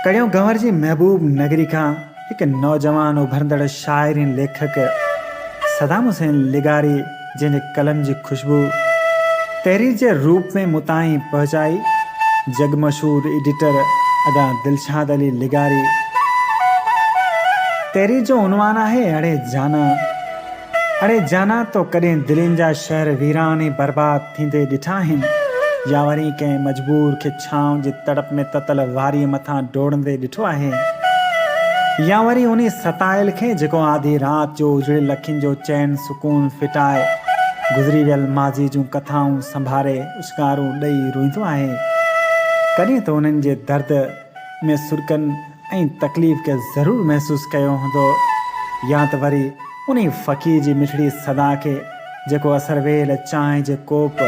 ڪڙيو گهنور جي محبوب نگري کان هڪ نوجوان اڀرندڙ شاعر ۽ ليکڪ صدام حسين لغاري جنهن جي قلم جي خوشبو تحرير جي روپ ۾ مون تائين پهچائي جڳ مشهور ايڊيٽر ادا دلشاد علي لغاري تحرير جو عنوان آهي اڙي جانا. اڙي جانا تو ڪڏهن دلين جا شهر ويران ۽ برباد ٿيندي ڏٺا آهن يا وري ڪنهن مجبور کي ڇانو جي تڙپ ۾ تتل واريء مٿان ڊوڙندي ڏٺو آهي يا وري انهي ستايل کي جيڪو آڌي رات جو اجڙيل اکين جو چين سڪون ڦٽائي گذري ويل ماضي جون ڪٿائون سنڀاري اڇڪارون ڏئي روئيندو آهي ڪڏهن ته انهن جي درد ۾ سرڪن ۽ تڪليف کي ضرور محسوس ڪيو هوندو يا ته وري انهي فقير جي مٺڙي صدا کي جيڪو اثر ويل چانهه جي ڪوپ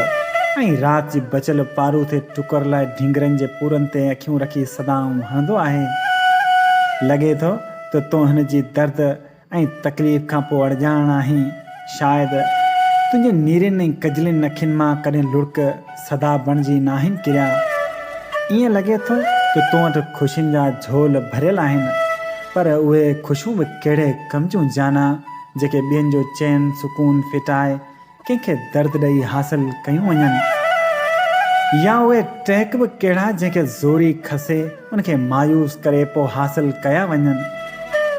۽ رات جي بچيل پاروٿي ٽڪر لاء ڍنگرن جي پورن تي اکيون رکي صدائون هڻندو آهي. لڳي ٿو ته تون هن جي درد ۽ تڪليف کان پوء اڙڄاڻ آهين شايد تنهنجي نيرين ۽ ڪجلين اکين مان ڪڏهن لڙڪ صدا بڻجي ناهن ڪريا ائين لڳي ٿو ته تو وٽ خوشين جا جهول ڀريل آهن پر اهي خوشون به ڪهڙي ڪم جون جانا جيڪي ٻين جو چين سڪون ڦٽائي ڪنهن کي درد ڏئي حاصل ڪيون وڃن يا اهي ٽهڪ به ڪهڙا جنهن کي زوري کسي ان کي مايوس ڪري پوء حاصل ڪيا وڃن.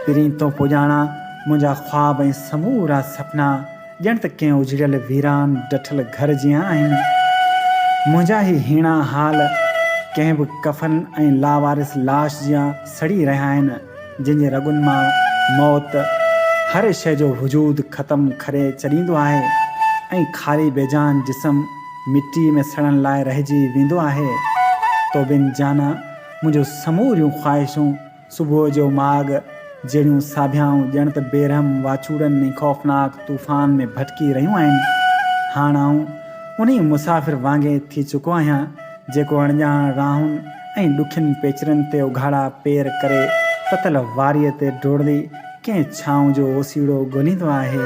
پرين تون پڄاڻا منهنجا خواب ۽ سمورا سپنا ڄڻ ته ڪنهن اجڙيل ويران ڊٺل گهر جيان آهن. منهنجا هي هيڻا حال ڪنهن به ڪفن ۽ لاوارث لاش جيان سڙي رهيا آهن. جنهن جي رڳن مان موت هر شيء جو وجود ختم ڪري ڇڏيندو آهي ۽ خالي بيجان جسم مٽيء ۾ سڙڻ لاء رهجي ويندو آهي. توبين جانا، منهنجون سموريون خواهشون صبح جو ماڳ جهڙيون ساڀيائون ڄڻ ته بيرحم واچوڙن ۽ خوفناڪ طوفان ۾ ڀٽڪي رهيون آهن. هاڻ آئون انهيء مسافر وانگي ٿي چڪو آهيان، جيڪو اڻڄاڻ راهن ۽ ڏکين پيچرن تي اگهاڙا پير ڪري تتل واريء تي ڊوڙندي ڪنهن ڇانو جو اوسيئڙو ڳوليندو آهي.